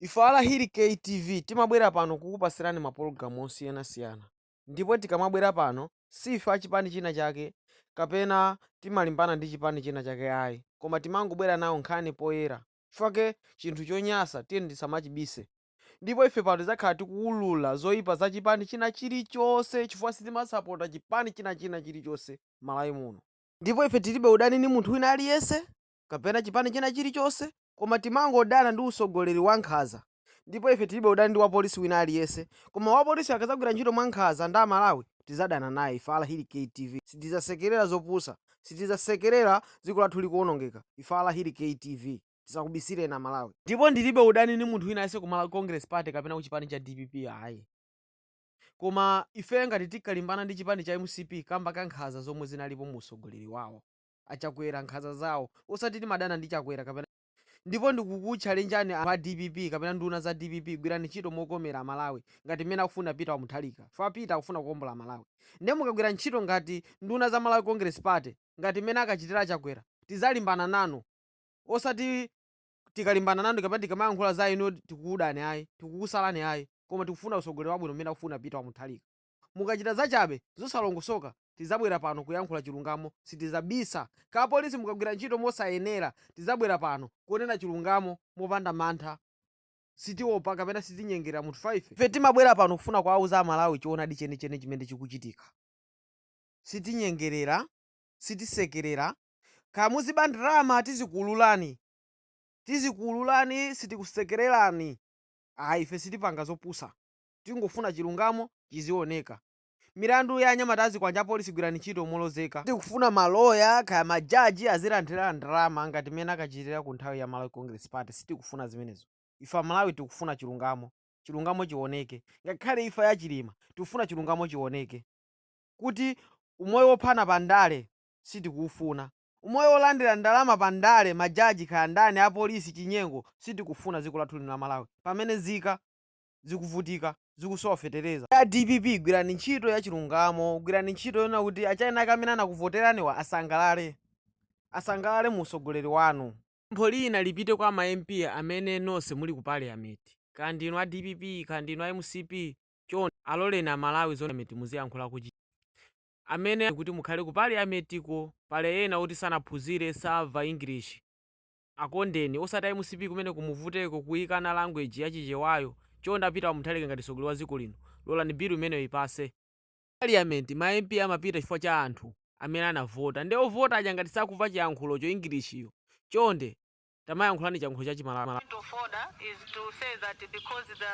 Ife a Lahiri Kay TV timabwera pano kukupasirani ma pologalamu osiyana siyana ndipo tikamabwera pano si ife a chipani china chake kapena timalimbana ndi chipani china chake ayi koma timangobwera nawo nkhani poyera chifukwa ke chinthu chonyasa tiyeni tisamachibise ndipo ife pano tidzakhala tikuwulula zoipa za chipani china chilichose chifukwa sitimasapota chipani china china chilichose Malawi muno ndipo ife tilibe udani ndi munthu wina aliyese kapena chipani china chilichonse koma timangodana ndi usogoleri wa nkhaza ndipo ife tilibe udani ndi wapolisi wina aliyese koma wapolisi akazagwira ntchito mwa nkhaza ndi amalawi tizadana naye ife a Lahiri KTV sitizasekelera zopusa sitizasekelera dziko lathu likuonongeka ife a Lahiri KTV tisakubisileni amalawi ndipo ndilibe udani ndi munthu wina aliyese ku malawi congress party kapena ku chipani cha dpp ayi koma ife ngati tinkalimbana ndi chipani cha mcp kamba ka nkhaza zomwe zinalipo mu usogoleri wawo. achakwera nkhaza zawo osati timadana ndi chakwera kapena ndipo ndikukutchalenjani a dpp kapena nduna za dpp gwirani ntchito mokomera amalawi ngati mmene akufuna peter wa mutharika chifukwa peter akufuna kuombola malawi ndiye mukagwira ntchito ngati nduna za malawi congress party ngati mmene ankachitira achakwera tizalimbana nanu osati tikalimbana nanu kapena tikamayankhula za inu tikukudani ayi tikukusalani ayi koma tikufuna utsogoleri wabwino mmene akufuna peter wa mutharika Mukachita zachabe, zosalongosoka, tizabwera pano kuyankhula chilungamo sitizabisa. Kaya apolisi mukagwira ntchito mosayenera, tizabwera pano kunena chilungamo mopanda mantha. Sitiopa kapena sitinyengerera munthu ife. Ife timabwera pano kufuna kuwauza a Malawi choonadi cheni cheni chimene chikuchitika. Sitinyengerera, sitisekerera. Kaya muziba ndalama tizikuululani, tizikuululani sitikusekererani ayi. Ife sitipanga zopusa. Tingofuna chilungamo chizioneka. Milandu ya anyamata azikwanje apolisi gwirani ntchito molozeka. Tikufuna ma lawyer kaya ma judge azilandira ndalama ngati mmene ankachitira ku nthawi ya Malawi Congress Party sitikufuna zimenezo. Ife amalawi tikufuna chilungamo. Chilungamo chioneke. Ngakhale imfa ya Chilima tikufuna chilungamo chioneke kuti umoyo wophana pa ndale sitikuufuna. Umoyo wolandira ndalama pa ndale ma judge kaya ndani apolisi chinyengo sitikufuna dziko lathu lino la Malawi pamene nzika. zikuvutika, zikusowa fetereza. A dpp gwirani ntchito ya chilungamo, gwirani ntchito yoona kuti a china ake amene anakuvoteraniwa asangalale, asangalale mu usogoleri wanu. Pempho lina lipite kwa ma MP amene nonse muli ku parliament, kaya ndinu a dpp kaya ndinu a mcp, chonde aloleni a Malawi zoona parliament muziyankhula ku chi amene kuti mukhale ku parliament ko, pali ena oti sanaphunzire, samva English. akondeni osati a mcp kumene kumavuteko kuikana language ya chichewayo chonde a peter wa mutharika ngati mtsogoleri wa dziko lino lolani bill imeneyo ipase parliament ma mp amapita chifukwa cha anthu amene anavota nde ovota aja ngati sakuva chiyankhulocho english yo chonde tamayankhulani chiyankhulo cha chimalawi. point of order is to say that because the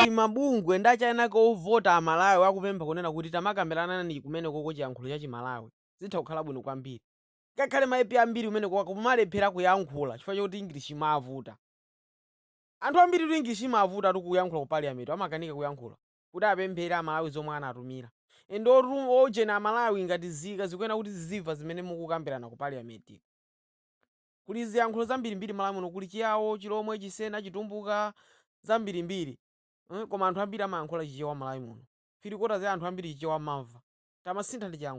Kuti mabungwe ndi achani kaya ovota a Malawi akupempha kunena kuti tamakambiranani kumenekoko chiyankhulo cha Chimalawi zitha kukhala bwino kwambiri. Ngakhale ma MP ambiri kumenekoko akumalephera kuyankhula chifukwa choti English imavuta. Anthu ambiritu English imavutatu kuyankhula ku parliament amakanika kuyankhula. kuti apemphere amalawi zomwe anatumira and ujeni amalawi ngati zika zikuyenera kuti ziziva zimene mukukambirana ku parliament ko kuli ziyankhulo zambirimbiri malawi muno kuli chiyawo chilomwe chisena chitumbuka zambirimbiri mm, koma anthu ambiri amayankhula chichewa malawi muno three quarters ya anthu ambiri chichewa amamva tamasinthani chiyankhulo